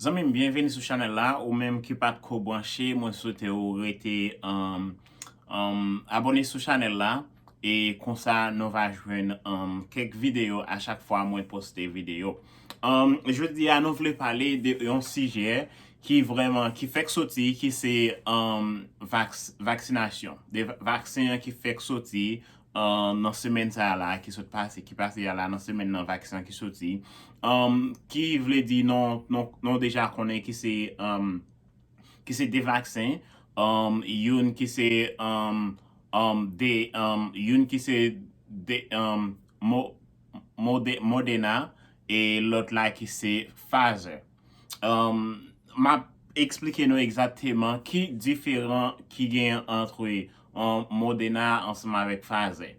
Zanmi m byenveni sou chanèl la, ou menm ki pat ko branche mwen swete ou rete abone sou chanèl la e konsa nou va jwenn kèk videyo a chak fwa mwen poste videyo. Jodi a nou vle pale de yon sijè ki vrèman, ki fèk soti, ki se vaksinasyon, de vaksen an ki fèk soti nan semèn sa a la, ki sot pase, ki pase a la, nan semèn nan vaksen an ki soti, ki vle di nou, nou deja konnen ki se, ki se de vaksen, youn ki se, de, youn ki se de, mo, modena, e lòt la ki se Pfizer. M ap eksplike nou egzakteman ki diferan ki gen antre Modena ansanm avèk Pfizer.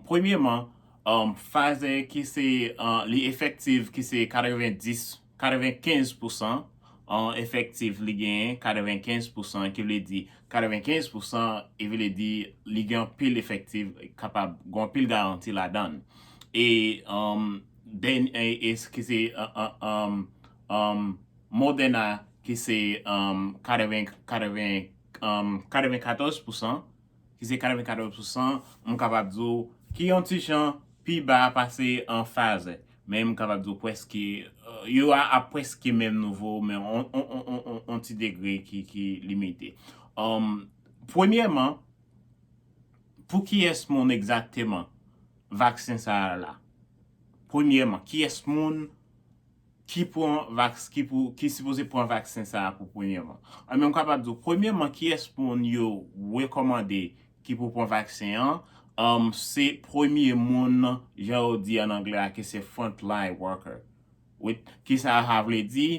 Premyeman, Pfizer ki se li efektiv ki se 90, 95 pousan efektiv li genyen, 95 pousan ki vle di 95 pousan e vle di li gen anpil efektiv kapab gen anpil garanti ladan l. E. Dany Ace ki se Modena ki se 94 pousan, ki se 94 pousan, m kapab di w ki yon ti jan pi ba pase Pfizer. Men m kapab di w pwèske, yo a pwèske menm nouvo, men yon ti degre ki limite. Premyèman, Pou kiyès moun egzakteman vaksen sa a la? Premyèman, kiyès moun ki pran vaks, ki pou, ki sipoze pran vaksen sa a pou premyèman? Anben, m kapab di w, premyèman, kiyès moun yo rekòmande ki pou pran vaksen an? Se premye moun, jan yo di an anglè a, ke se front line worker. Wi. Ki sa sa vle di?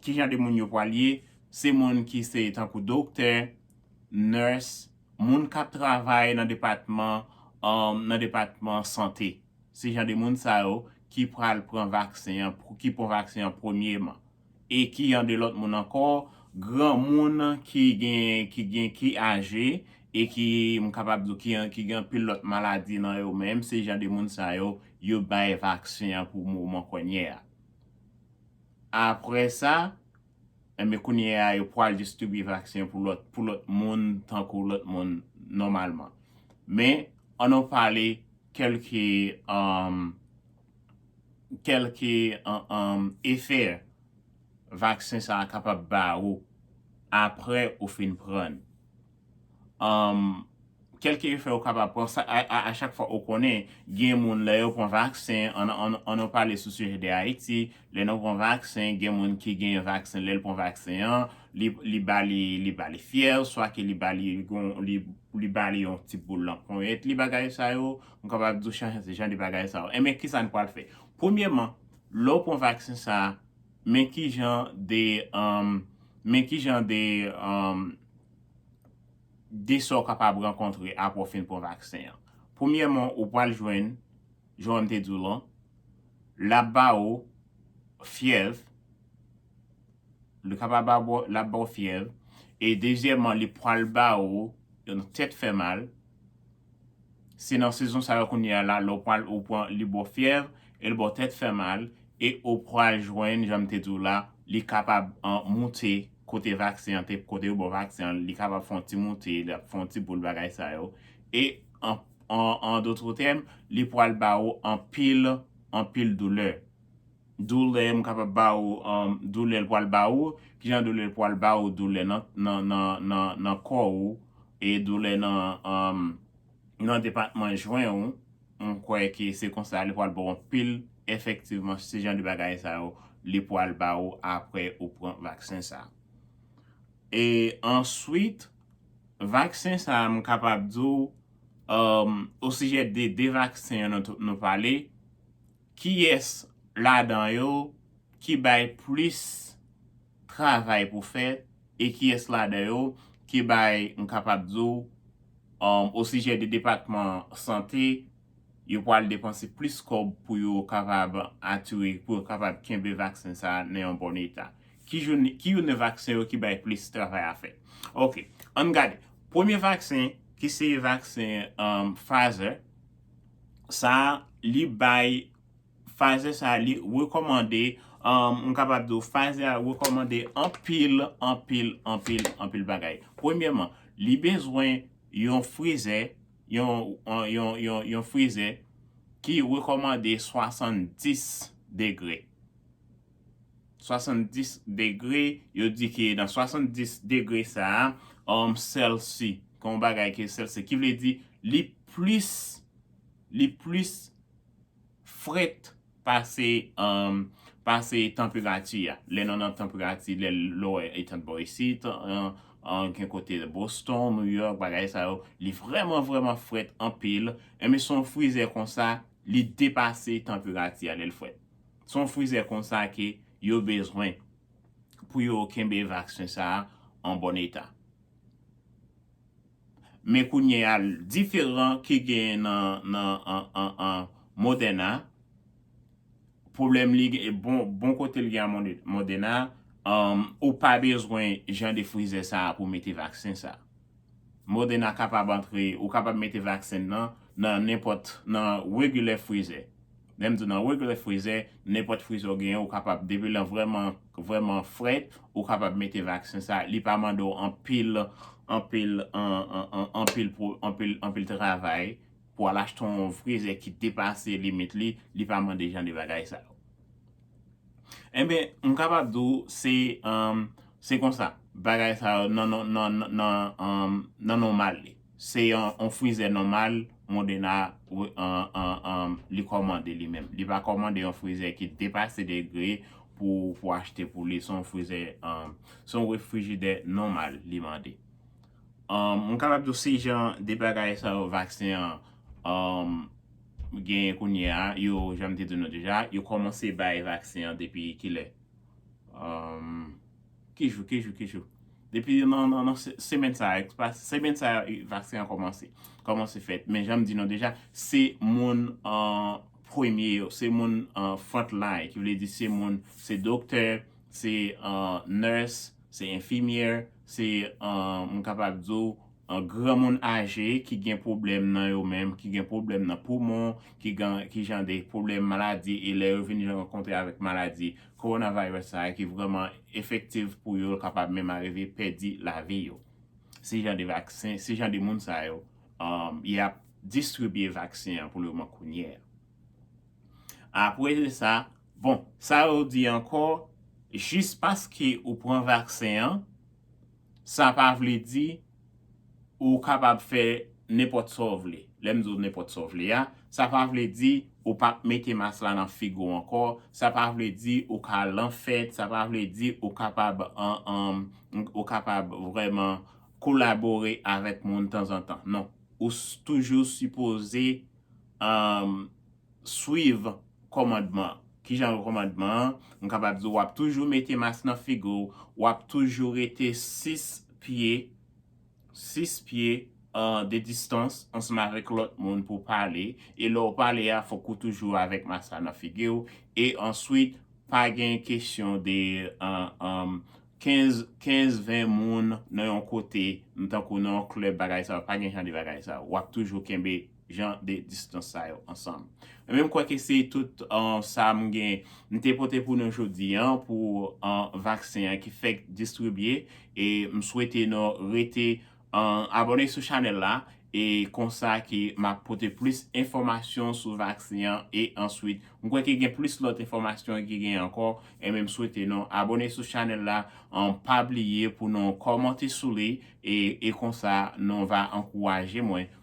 Ki jan de moun yo pral ye? Se moun ki se tankou doktè. nurse, moun k ap travay nan depatman nan depatman sante. Se jan de moun sa yo ki pral pran vaksen an, ki pran vaksen an premyeman. E ki jan de lòt moun ankò, granmoun ki gen, ki gen, ki aje e ki m kapab di w ki an, ki gen anpil lòt maladi nan yo menm, se jan de moun sa yo, yo bay vaksen an pou moman konye a. Apre sa. Enben kounye a yo pwal distribye vaksen pou lòt pou lòt moun tankou lòt moun nòmalman. Men an nou pale kèlke kèlke efè vaksen sa a kapab ba ou apre ou fin pran n. Umm kelke efè ou kapab pran sa a chak fwa ou konnen gen moun lè yo pran vaksen an nou pale sou sijè de Ayiti lè nou pran vaksen gen moun ki gen vaksen lè l pran vaksen an li ba li li ba li fyèv swa ke li ba li gon li ba li yon ti boul nan ponyèt li bagay sa yo m kapab di w chan se jan de bagay sa yo enben ki sa n pral fè premyèman lè w pran vaksen sa a men ki jan de umm men ki jan de umm. de sa w kapab rankontre apre w fin pran vaksen an. Premyèman, ou pral jwenn, jan m te di w lan, l ap ba ou fyèv, li kapab ba ou, l ap ba ou fyèv, e dezyèman li pral ba ou yon tèt fè mal, Se nan sezon sa yo kounye a la lè w pral ou pran li bo fyèv e l bo tèt fè mal e ou pral jwenn jan m te di w la li kapab moute kote vaksen an te kote yo bo vaksen an li kapab fon ti moute li ap fon ti boul bagay sa yo e an an dotre tèm li pral ba ou anpil anpil doulè. Doulè m kapab ba ou Doulè l pral ba ou Ki jan doulè l pral ba ou Doulè nan kò ou E doulè nan depatman jwen ou M kwè ke se konsa li pral ba ou anpil Efektivman se jan de bagay sa yo li pral ba ou apre ou pran vaksen sa a E answit vaksen sa a m kapab di ou osijè de 2 vaksen yo nou pale Kiyès ladan yo ki bay plis travay pou fè e kiyès ladan yo ki bay m kapab di w osijè de depatman sante yo pwal depanse plis kòb pou yo kapab ature pou yo kapab kenbe vaksen sa a nan yon bon eta? Ki jou ki youn nan vaksen yo ki bay plis travay a fè? Ok, an n gade. Premye vaksen ki se vaksen Pfizer. sa li bay Pfizer sa li rekòmande m kapab di w Pfizer a rekòmande anpil anpil anpil anpil bagay premyèman li bezwen yon frizè yon yon yon yon frizè ki rekòmande 70 degre. 70 degre, yo di ke nan 70 degre sa a, um Celsi, gen yon bagay ke Celsi, ki vle di li plis, li plis frèt pase, um pase tanperati a. Lè nou nan tanperati, lè lò etan bò isit, um um gen kote Boston, New York, bagay sa yo, li vrèman vrèman frèt anpil, enben se yon frizè konsa, li depase tanperati a lè l frèt. Se yon frizè konsa ke yo bezwen pou yo kenbe vaksen sa a an bon eta. Men kounye a, diferan ki genyen nan Moderna, pwoblèm li, bon kote li gen a Moderna, ou pa bezwen jan de frizè sa a pou mete vaksen sa a. Moderna kapab antre, ou kapab mete vaksen nan, nan nenpòt, nan regular frizè. Lè m di w nan regular frizè, nenpòt frizè w genyen ou kapab, depi l vrèman, vrèman fre, ou kapab mete vaksen sa, li pa mande w anpil, anpil, anpil, anpil, anpil travay pou w al achte yon frizè ki depase limit li, li pa mande jan de bagay sa yo. Enben, m kapab di w se se konsa bagay sa yo nan nan nòmal li. Se yon frizè nòmal Modena li kòmande li menm. Li pa kòmande yon frizè ki depase degre pou pou achte pou li. Se yon frizè se yon refrijidè nòmal li mande. M kapab di w se jan de bagay sa yo vaksen an Genyen kounye a, yo, jan m te di nou deja, yo kòmanse bay vaksen an depi ki lè? Ki jou, ki jou, ki jou? Depi nan, nan semèn sa a, semèn sa a vaksen an kòmanse, kòmanse fèt. Men jan m di nou deja, se moun premye yo, se moun front line, ki vle di se moun, se doktè, se nurse, se infirmière, se, m kapab di w, Granmoun aje ki gen pwoblèm nan yo menm, ki gen pwoblèm nan poumon, ki gen ki jan de pwoblèm maladi e lè yo vin rankontre avèk maladi coronavirus sa a ki vrèman efektiv pou yo, kapab menm arive pèdi lavi yo. Se jan de vaksen, se jan de moun sa yo y ap distribye vaksen an pou le moman kounye a. Apre de sa, bon, sa yo di ankò, jis paske ou pran vaksen an, Sa pa vle di ou kapab fè nenpòt sa w vle. Lè m di w nenpòt sa w vle a, sa pa vle di ou p ap mete mas la nan figi w ankò, sa pa vle di ou ka al nan fèt, sa pa vle di ou kapab ou kapab vrèman kolabore avèk moun tanzantan. Non. Ou toujou sipoze swiv kòmandman. Ki jan yo kòmandman an? M kapab di w ap toujou mete mas nan figi w, w ap toujou rete 6 pye, 6 pye de distans ansanm avèk lòt moun pou w pale. E lè w pale a fòk ou toujou avèk mas la nan figi w. E answit pa gen kesyon de 15 15 20 moun nan yon kote m tankou nan yon club bagay sa yo pa gen jan de bagay sa yo wap toujou kenbe jan de distance sa yo ansanm ebyen m kwè ke se tout sa m gen m te pote pou nou jodi an pou vaksen an ki fèk distribye e m swete nou rete Abone sou chanel la e konsa ke map pote plis enfomasyon sou vaksen an e answit m kwè ke gen plis lot enfomasyon ki gen anko enben m swete nou abone sou chanel la pa bliye pou nou komante sou li e konsa nou va ankouraje mwen